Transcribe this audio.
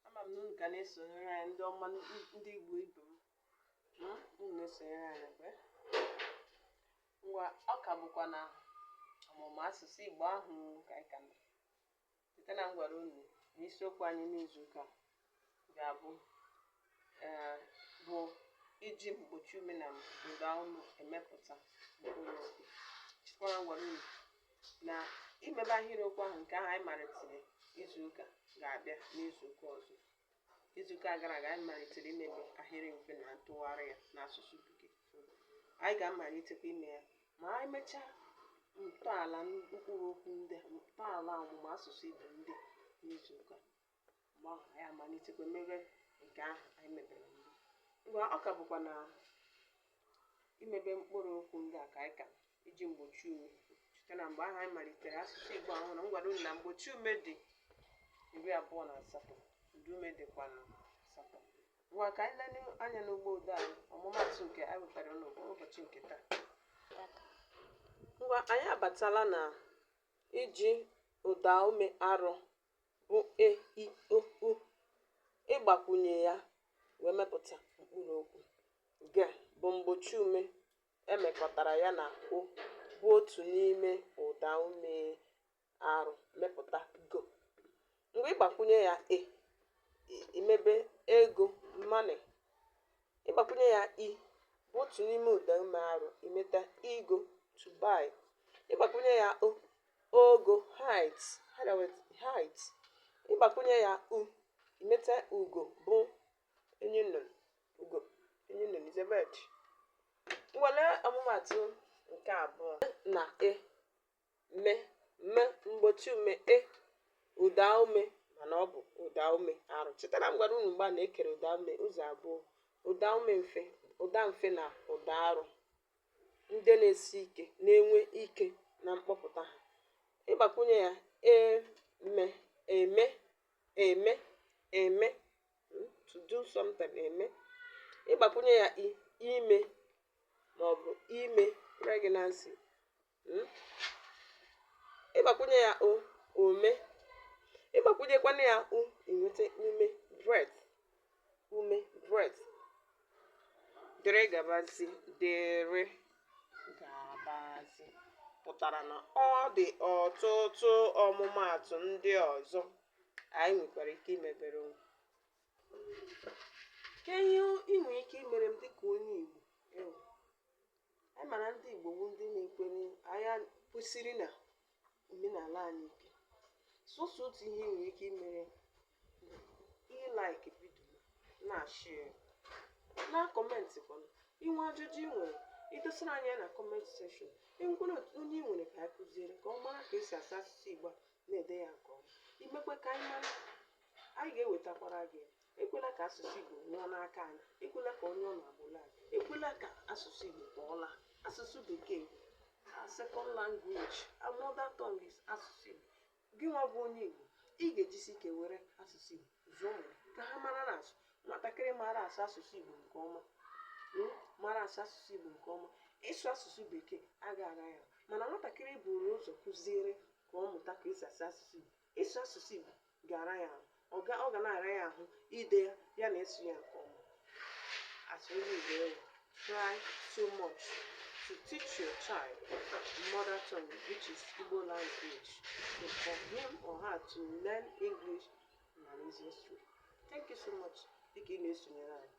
ama m na unu ka na-esonyere anyị ndị ọma ndị Igbo ibe m hmm? unu na-esonyere anyị mgbe ngwa ọ ka bụkwa na ọmụmụ asụsụ Igbo ahụ ka anyị ka nọ site na m gwara unu na isiokwu anyị n'izu ụka ga-abụ ee, bụ iji mgbochi ume na ụda ume emepụta mkpụrụ okwu chekwara m gwara unu na imebe ahịrịokwu ahụ nke ahụ anyị malitere izu ụka ga-abịa n'izu ụka ọzọ izu ụka gara aga anyị malitere imebe ahịrị mfe na ntụgharị ya n'asụsụ bekee anyị ga-amalitekwa ime ya ma anyị mechaa ntọala mkpụrụ okwu ndị a ntọala ọmụmụ asụsụ igbo ndị a n'izu ụka mgbe ahụ anyị amalitekwa mebe nke ahụ anyị mebere mbụ ngwa ọ ka bụkwa na imebe mkpụrụ okwu ndị a ka anyị ka iji mgbochi ume site na mgbe ahụ anyị malitere asụsụ igbo ahụ na m gwara unu na mgbochi ume dị iri abụọ na asatọ ụda ume dịkwa na asatọ ngwa ka anyị lele anya n'ugbo ụda anyị ọmụmatụ nke anyị wetara n'ụbọ ụbọchị nke taa ngwa anyị abatala na iji ụda ume arọ bụ e i o u ịgbakwunye ya wee mepụta mkpụrụ okwu ge bụ mgbochi ume emekọtara ya na o bụ otu n'ime ụda ume arụ mepụta go ngwa ịgbakwunye ya e imebe ego money ịgbakwunye ya i bụ otu n'ime ụda ume arụ imeta igo to buy ịgbakwunye ya o ogo height higher with height ịgbakwunye ya u imeta ugo bụ enyi nnụnụ ugo enyi nnụnụ is a bird ngwa lee ọmụmatụ nke abụọ na e me me mgbochi ume e ụda ume mana ọ bụ ụda ume arụ chetara m gwara unu mgbe a na-ekere ụda ume ụzọ abụọ ụda ume mfe ụda mfe na ụda arụ ndị na-esi ike na-enwe ike na mkpọpụta ha. Ịgbakwụnye ya, e me, eme, eme, eme, hmm, to do something, eme. Ịgbakwunye ya i, ime, ma ọ bụ ime, pregnancy, hmm? ịgbakwunye ya o ome ịgbakwunyekwana ya u inweta ume breath ume breath dịrị gabazi dịrị gabazi pụtara na ọ dị ọtụtụ ọmụmaatụ ndị ọzọ anyị nwekwara ike imebere onwe kee ihe ị nwere ike imere m dịka onye Igbo Anyị mara ndị Igbo bụ ndị na-ekwere anyị kwesiri na omenala anyị ike. Sọsọ otu ihe i nwere ike imere ịlike video na ịshare ya. Na comment kwanụ, i nwee ajụjụ ị nwere, i dosara anyị ya na comment section. Enwekwala otu onye ị nwere ka anyị kụziere ka ọ mara ka esi asụ asụsụ Igbo na-ede ya nke ọma. I mekwe ka anyị mara, anyị ga-ewetakwara gị ya. ekwela ka asụsụ Igbo nwụọ n'aka anyị ekwela ka onye ọ na-agbụla anyị ekwela ka asụsụ Igbo kpọọla asụsụ bekee a second language our mother tongue is asụsụ Igbo gị nwa bụ onye Igbo ị ga-ejisi ike were asụsụ Igbo zụọ ụmụ gị ka ha mara na asụ nwatakịrị mara asụ asụsụ Igbo nke ọma mm, mara asụ asụsụ Igbo nke ọma ịsụ asụsụ bekee agaghị ara ya ahụ mana nwatakịrị buru ụzọ kụziere ka ọ mụta ka esi asụ asụsụ Igbo ịsụ asụsụ Igbo ga-ara ya ahụ ọ ga ọ ga na-ara ya ahụ ide ya ya na ịsụ ya nke ọma as onye Igbo ị wụ try so much to teach your child mother tongue which is Igbo language so for him or her to learn English in an easiest way thank you so much dịka ị na-esonyere anyị